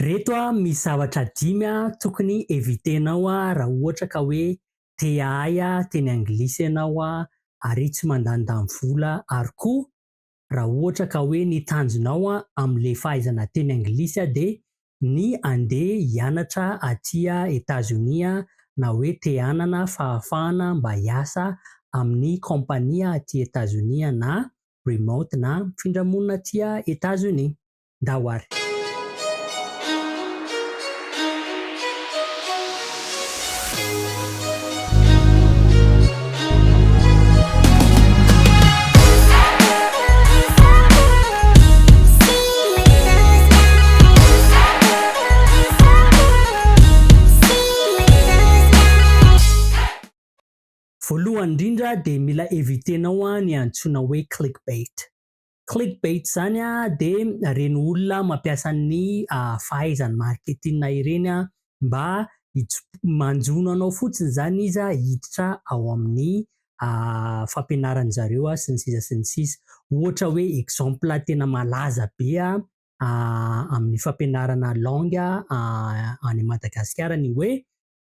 Reto a misy zavatra dimy a tokony evitenao a raha ohatra ka hoe te ahay a teny anglisy ianao a ary tsy mandanindany vola ary koa raha ohatra ka hoe ny tanjonao a amle fahaizana teny anglisy a de ny ande hianatra aty a Etazonia a na hoe te hanana fahafahana mba hiasa aminy kaompania aty Etazonia na remote na mifindra monina aty a Etazonia. ndao ary. Voalohany indrindra dia mila eviter-nao ny antsoina hoe clickbait. Clickbait zany dia ireny olona mampiasa ny fahaizany marketing ireny mba manjono anao fotsiny izany izy hiditra ao amin'ny fampianaran'ny zareo sy ny sisa sy ny sisa. Ohatra hoe exemple tena malaza be amin'ny fampianarana langue any Madagasikara ny hoe.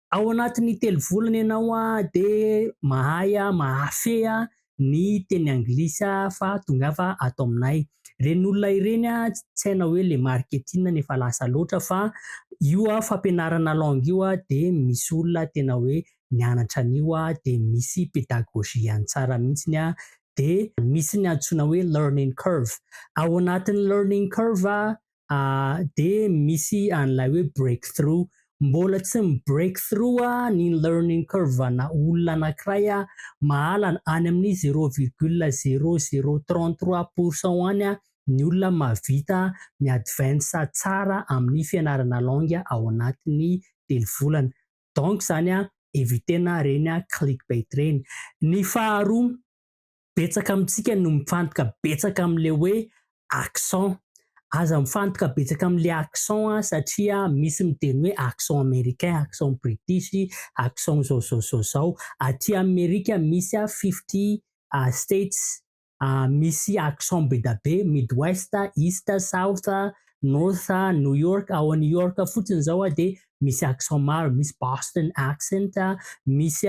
Ao anatin'ny telo volana ianao dia mahay mahafehy ny teny anglisy fa tongava ato aminay. Ireny olona ireny tsy hainao hoe le marketing no efa lasa loatra fa io fampianarana langue io dia misy olona tena hoe nianatra an'io dia misy pédagogie-ny tsara mihitsy dia misy ny antsoina hoe learning curve. Ao anatin'ny learning curve dia misy an'ilay hoe break through. Mbola tsy mi-break through ny learning curve ana olona anankiray mahalana any amin'ny zero virgule zero zero trente trois pourcent any ny olona mahavita mi-advance tsara amin'ny fianarana langue ao anatin'ny telo volana. Donc izany, eviter-na ireny clickbait ireny. Ny faharoa, Betsaka amintsika no mifantoka betsaka amin'ilay hoe accent. Aza mifantoka betsaka amin'ilay accent an, satria misy miteny hoe accent americain, accent british, accent izao izao izao izao. Aty Amerika misy fifty states, misy accent be dia be, midwest, east, south, north, New York, ao New York fotsiny izao dia misy accent maro, misy Boston accent, misy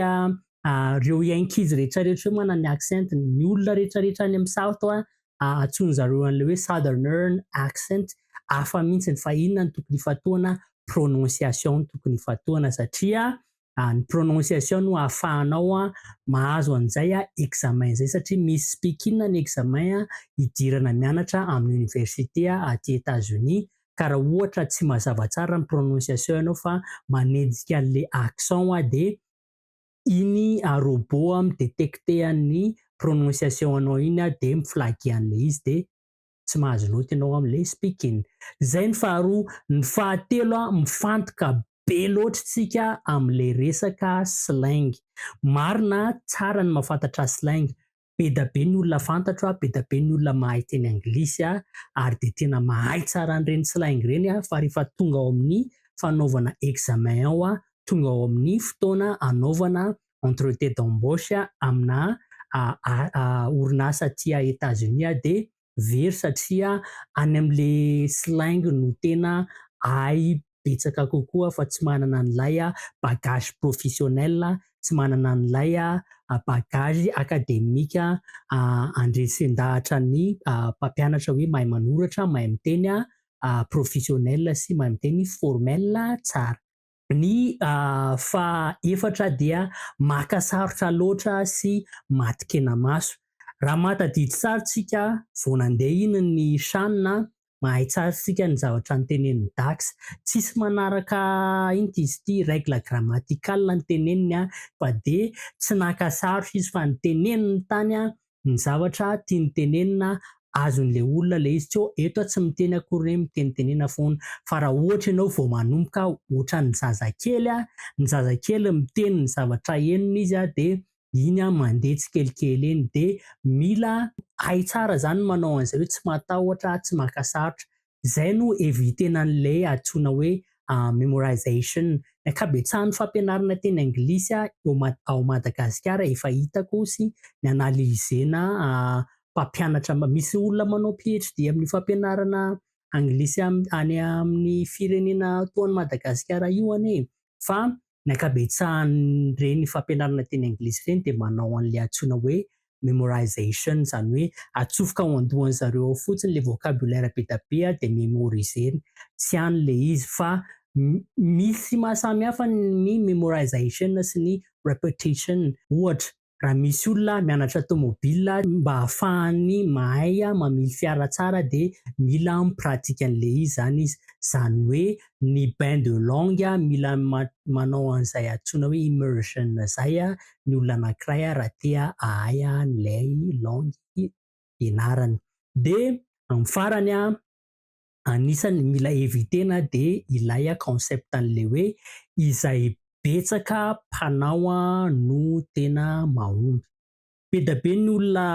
reo ankizy rehetra rehetra reo manana ny accent ny ny olona rehetra rehetra any amin'ny south a antsoin zareo an'le hoe southernern accent hafa mihitsy ny fa inona ny tokony ifatohana prononciation ny tokony ifatohana satria ny prononciation no hahafahanao a mahazo an'izay a examen izay satria misy speaking ny examen a hidirana mianatra amin'ny université a aty Etats Unis ka raha ohatra tsy mazava tsara ny prononciation ianao fa manejika an'le accent a dia Iny a robot a mi-detecter an'ny prononciation anao iny a dia mi-flaguer an'ilay izy dia tsy mahazo note ianao amin'ilay speaking. Izay ny faharoa. Ny fahatelo a, mifantoka be loatra isika amin'ilay resaka slang. Marina tsara ny mahafantatra slang be da be ny olona fantatro a, be da be ny olona mahay teny anglisy a, ary dia tena mahay tsara an'ireny slang ireny aho fa rehefa tonga ao amin'ny fanaovana examen ao a, tonga ao amin'ny fotoana anaovana entretier d'embauche aminà orinasa aty États-Unis aho dia very satria any amin'ilay slang no tena ahay betsaka kokoa fa tsy manana an'ilay bagage professionnel, tsy manana an'ilay bagage academique andresen-dahatra ny mpampianatra hoe mahay manoratra, mahay miteny professionnel sy mahay miteny formel tsara. Ny faha efatra dia maka sarotra loatra sy maty kenamaso. Raha mahatadidy tsara tsika vao nandeha iny ny Shan a, mahay tsara tsika ny zavatra notenenin'i Dax. Tsisy manaraka inty izy ity règle grammaticale no teneniny a, fa dia tsy naka sarotra izy fa ny teneniny tany a ny zavatra tiany tenenina azony le olona le izy co eto a tsy miteny akory re mitenitenena foana fa ra ohatra ianao vo manomboka otrany zazakely a ny zazakely miteny ny zavatra henony izy a de iny a mande tsikelikely eny de mila hay tsara zany manao anizay oe tsy matahotra tsy maka sarotra Izay no evitena an'ilay antsoina hoe memorization. Ny ankabetsahan'ny fampianarana teny anglisy eo ao Madagasikara efa hitako sy nianalizena mpampianatra, misy olona manao PHD amin'ny fampianarana anglisy any amin'ny firenena toa an'i Madagasikara io anie e! Fa Ny ankabetsahan'ireny fampianarana teny anglisy ireny dia manao an'ilay antsoina hoe memorization, izany hoe atsofoka ao an-dohan'ny zareo ao fotsiny ilay vocabulaire be dia be dia memoriser-ny. Tsy ihany ilay izy fa misy mahasamy hafa ny memorization sy ny repetition. Ohatra, Raha misy olona mianatra tomobile mba hahafahany mahay mamily fiara tsara dia mila mi-pratique an'ilay izy zany izy. Zany hoe ny bain de langue mila manao an'izay antsoina hoe immersion zay ny olona anankiray raha te hahay an'ilay langue ianarany. Dia amin'ny farany, anisan'ny mila eviter-na dia ilay concept an'ilay hoe izay betsaka mpanao no tena mahomby. Be dia be ny olona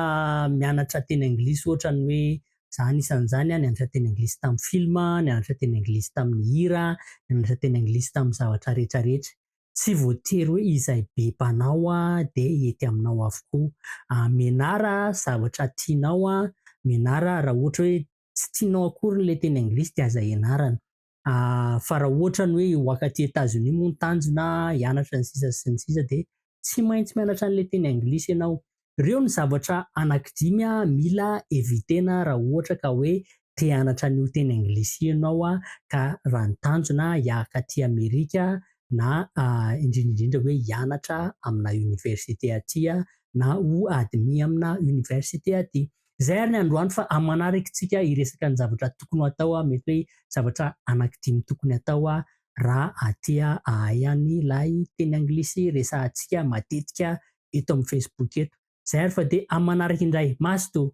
mianatra teny anglisy ohatra ny hoe izaho anisan'izany nianatra teny anglisy tamin'ny film, nianatra teny anglisy tamin'ny hira, nianatra teny anglisy tamin'ny zavatra rehetra rehetra. Tsy voatery hoe izay be mpanao dia hety aminao avokoa. Menara zavatra tianao, menara raha ohatra hoe tsy tianao akory ilay teny anglisy dia aza ianarana fa raha ohatra ny hoe hiwaka aty Etazonia moa ny tanjona hianatra ny sisa sy ny sisa dia tsy maintsy mianatra an'ilay teny anglisy ianao. Ireo ny zavatra anankidimy mila eviter-na raha ohatra ka hoe te hianatra an'io teny anglisy io ianao ka raha ny tanjona hiaka aty Amerika na indrindra indrindra hoe hianatra amina université aty na ho admis amina université aty. Izay ary ny androany fa amin'ny manaraka isika hiresaka ny zavatra tokony ho atao, mety hoe zavatra anankidimy tokony hatao raha aty ahay any ilay teny anglisy resahantsika matetika eto amin'ny Facebook eto. Izay ary fa dia amin'ny manaraka indray. Mazotoa!